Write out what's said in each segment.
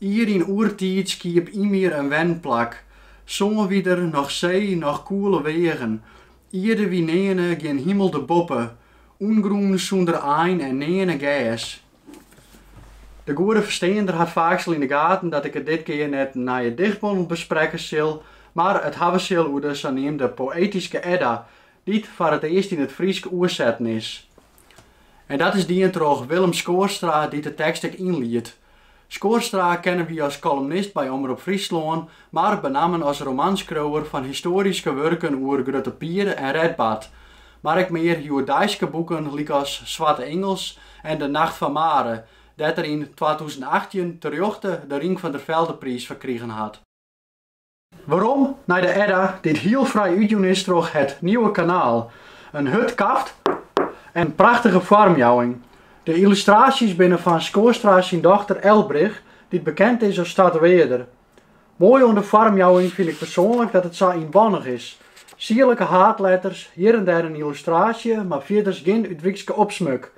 Ier yn oertiid skiep Ymir in wenplak. Sân wie der noch see, noch koele weagen. Ierde wie nearne gjin himel der boppe, ûngrûn sûnder ein en nearne gers. De goede fersteander hat faaks al yn de gaten dat ik it dit kear net in nije dichtbondel besprekke sil, mar it hawwe sil oer de saneamde poëtyske Edda, dy't foar it earst yn it Frysk oersetten is. En dat is dien troch Willem Schoorstra dy't de tekst ek ynliedt. Schoorstra kenne wy as kolumnist by Omrop Fryslân, mar benammen as romanskriuwer fan histoaryske wurken oer Grutte Pier en Redbad, mar ek mear hjoeddeiske boeken lykas Swarte Ingels en De Nacht fan Mare, dêr't er yn twatûzen achttjin terjochte de Rink van der Veldepriis foar krigen hat. Werom nei de Edda dy't hiel fraai útjûn is troch Het Nieuwe Kanaal. In hurd kaft en prachtige foarmjouwing. De yllustraasjes binne fan Schoorstra syn dochter Elbrich, dy't bekend is as tatoeëarder. Moai oan de foarmjouwing fyn ik persoanlik dat it sa ynbannich is. Sierlike haadletters, hjir en dêr in yllustraasje, mar fierders gjin útwrydske opsmuk.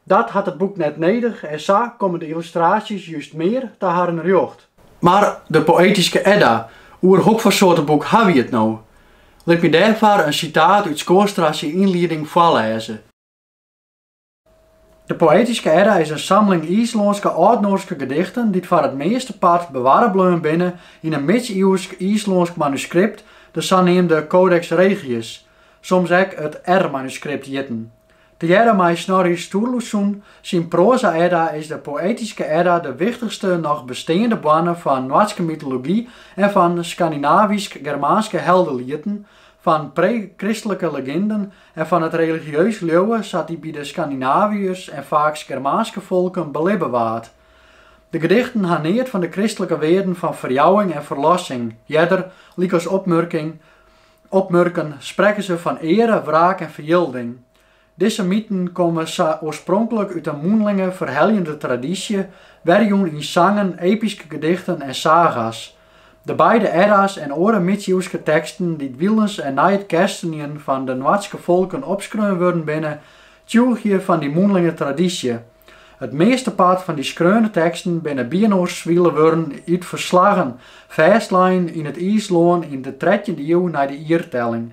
Dat hat it boek net nedich en sa komme de yllustraasjes just mear ta harren rjocht. Mar de poëtyske Edda, oer hokfoar soarte boek ha wy it no? Lit my dêrfoar in sitaat út Schoorstra syn ynlieding foarlêze. De poëtyske Edda is in samling Yslânske âldnoarske gedichten dy't foar it measte part bewarre bleaun binne yn in midsiuwsk Yslânsk manuskript, de saneamde Codex Regius, soms ek it R-manuskript hjitten. Tegearre mei Snorri Sturluson syn Proza-Edda is de poëtyske Edda de wichtichste noch besteande boarne fan Noardske mytology en fan Skandinavysk-Germaanske heldelieten, fan pre-kristlike leginden en fan it religieus leauwe sa't dy by de Skandinaviërs en faaks Germaanske folken belibbe waard. De gedichten ha neat fan de kristlike wearden fan ferjouwing en ferlossing, earder, lykas opmurken, opmurken sprekke se fan eare, wraak en ferjilding. Dizze myten komme oarspronklik út in mûnlinge, ferheljende tradysje, werjûn yn sangen, epyske gedichten en saga's. De beide Edda's en oare midsiuwske teksten dy't wylens en nei it kerstenjen fan de Noardske folken opskreaun wurden binne, Tsjûgje fan dy mûnlinge tradysje. It meastepart fan dy skreaune teksten binne byinoarswile wurden út ferslaggen, fêstlein yn it Yslân yn de trettjinde iuw nei de jiertelling.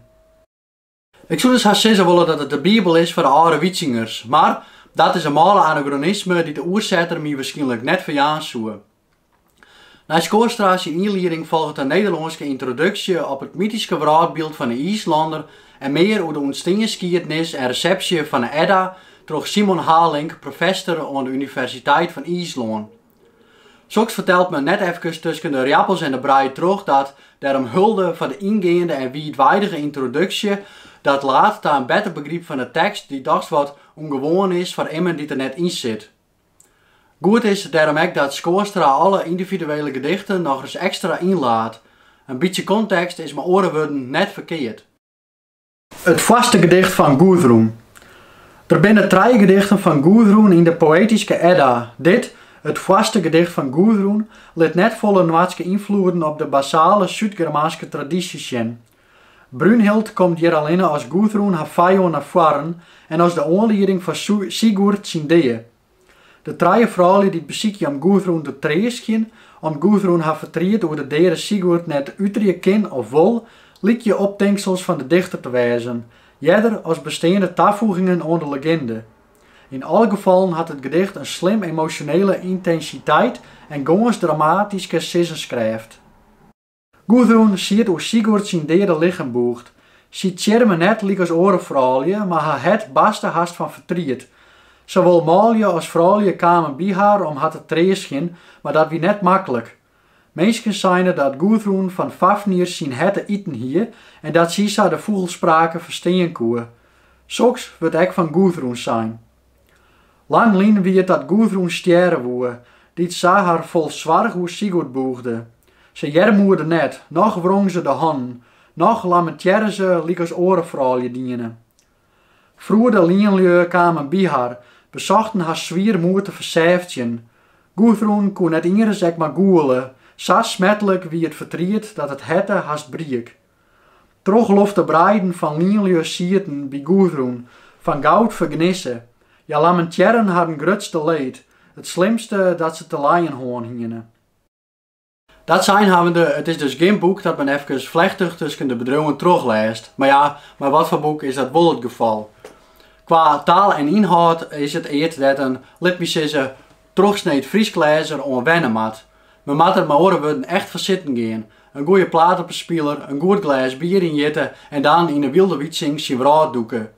Ik soe dus hast sizze wolle dat it de Bibel is foar de âlde Wytsingers, mar dat is in mâle anagronisme dy't de oersetter my wierskynlik net ferjaan soe. Nei Schoorstra syn ynlieding folget in Nederlânske yntroduksje op it mytyske wrâldbyld fan 'e Yslanner en mear oer de ûntstienskiednis en resepsje fan 'e Edda troch Simon Halink, professor oan de Universiteit fan Yslân. Soks fertelt men net efkes tusken de rjappels en de brij troch, dat dêrom hulde foar de yngeande en wiidweidige yntroduksje, dat laat ta in better begryp fan 'e tekst dy't dochs wat ûngewoan is foar immen dy't der net yn sit. Goed is it dêrom ek dat Schoorstra alle yndividuele gedichten nochris ekstra ynlaat. In bytsje kontekst is mei oare wurden net ferkeard. It foarste gedicht fan Gûdrûn. Der binne trije gedichten fan Gûdrûn yn de Poëtyske Edda. Dit, it foarste gedicht fan Gûdrûn, lit net folle Noardske ynfloeden op de basale Súdgermaanske tradysje sjen. Brunhild komt hjir allinne as Gûdrûn har fijân nei foaren en as de oanlieding foar Sigurd syn dea. De trije froulju dy't besykje om Gûdrûn te treastgjen, om't Gûdrûn har fertriet oer de deade Sigurd net uterje kin of wol, lykje optinksels fan de dichter te wêzen, earder as besteande tafoegingen oan de leginde. Yn alle gefallen hat it gedicht in slim emosjonele yntensiteit en gâns dramatyske sizzenskrêft. Gûdrûn siet oer Sigurd syn deade lichem bûgd. Sy tsjirme net lykas oare froulju, mar har hert barstte hast fan fertriet. Sawol manlju as froulju kamen by har om har te treastgjen, mar dat wie net maklik. Minsken seine dat Gûdrûn fan Fafnir syn herte iten hie en dat sy sa de fûgelsprake ferstean koe. Soks wurdt ek fan Gûdrûn sein. Lang lyn wie it dat Gûdrûn stjerre woe, dy't se har fol soarch oer Sigurd bûgde. Se earmoede net, noch wrong se de hannen, noch lamentearre se lykas oare froulju diene. Froede lienlju kamen by har, besochten har swier moed te ferseftjen. Gûdrûn koe net ienris ek mar gûle, sa smertlik wie it fertriet dat it herte hast briek. Trochlofte breiden fan lienlju sieten by Gûdrûn fan goud fergnisse. Hja lamentearren harren grutste leed, it slimste dat se te lijen hân hiene. Dat sein hawwende, it is dus gjin boek dat men efkes flechtich tusken de bedriuwen trochlêst. Mar ja, mei wat foar boek is dat wol it gefal? Kwa taal en ynhâld is it eat dêr't in, lit my sizze, trochsneed Frysk lêzer oan wenne moat. Men moat der mei oare wurden echt foar sitten gean, in goeie plaat op 'e spiler, in goed glês bier ynjitte en dan yn 'e wylde Wytsing syn wrâld dûke.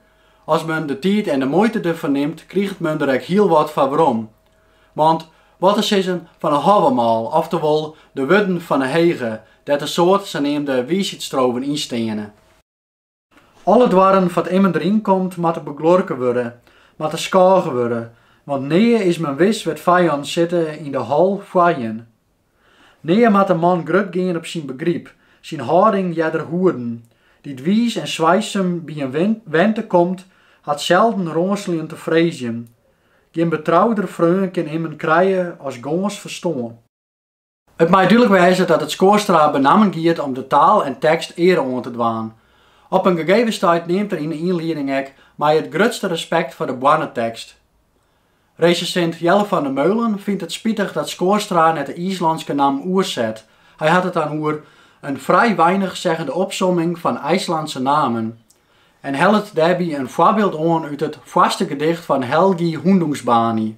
As men de tiid en de muoite derfoar nimt, kriget men der ek hiel wat foar werom. Want wat te sizzen fan 'e Hávamál, oftewol de wurden fan 'e Hege, dêr't in soad saneamde wiisheidsstrofen yn steane. Alle doarren foar't immen deryn komt, moatte begluorke wurde, moatte skôge wurde, want nea is men wis wêr't fijannen sitte yn de hal foar jin. Nea moat in man grut gean op syn begryp, syn hâlding earder hoeden, dy't wiis en swijsum by in wente komt, hat selden rânseljen te freezjen. Gjin betrouder freon kin immen krije as gâns ferstân. It mei dúdlik wêze dat it Schoorstra benammen giet om de taal en tekst eare oan te dwaan. Op in gegeven stuit neamt er yn 'e ynlieding ek mei it grutste respekt foar de boarnetekst. Resensint Jelle van der Meulen fynt it spitich dat Schoorstra net de Yslânske nammen oerset. Hy hat it dan oer in vrij weinigzeggende opsomming van IJslandse namen en hellet dêrby in foarbyld oan út it foarste gedicht fan Helgi Hundingsbani.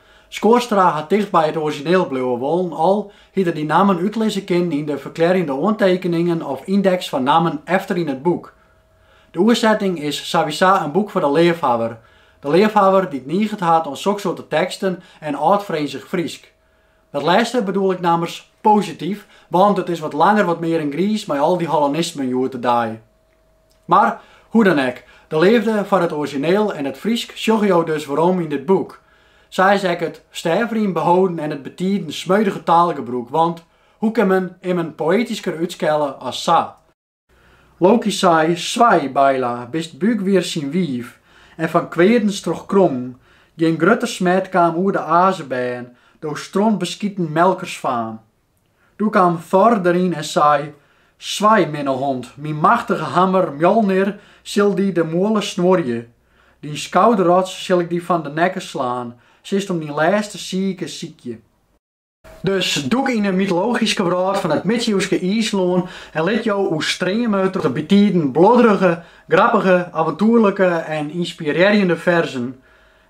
Schoorstra hat ticht by it orizjineel bliuwe wollen al hie er dy nammen útlizze kinnen yn de ferklearjende oantekeningen of yndeks fan nammen efter yn it boek. De oersetting is sawiesa in boek foar de leafhawwer, de leafhawwer dy't niget hat oan soksoarte teksten en âldfrinzich Frysk. Dat lêste bedoel ik nammers posityf, want it is wat langer wat mear in griis mei al dy hollanismen hjoed de dei. Mar, hoe dan ek, de leafde foar it orizjineel en it Frysk sjogge jo dus werom yn dit boek. Sa is ek it stêfrym beholden en it bytiden smeudige taalgebrûk, want hoe kin men immen poëtysker útskelle as sa? Loki sei, Swij, Beyla, bist Byggvir syn wiif, en fan kweadens trochkrongen, gjin grutter smet kaam oer de Azebern, do strontbeskiten melkersfaam. Doe kaam Thor deryn en sei, Swij, minne hond, myn machtige hammer Mjolnir sil dy de muolle snuorje. Dyn skouderots sil ik dy fan de nekke slaan, silst om dyn lêste siike sykje. Dus dûk yn 'e mytologyske wrâld fan it midsiuwske Yslân en lit jo oerstreame troch de bytiden bluodrige, grappige, aventoerlike en ynspirearjende ferzen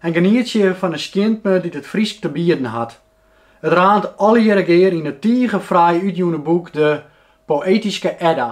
en genietsje fan 'e skjintme dy't it Frysk te bieden hat. It raant allegearre gear yn it tige fraai útjûne boek De Poëtyske Edda.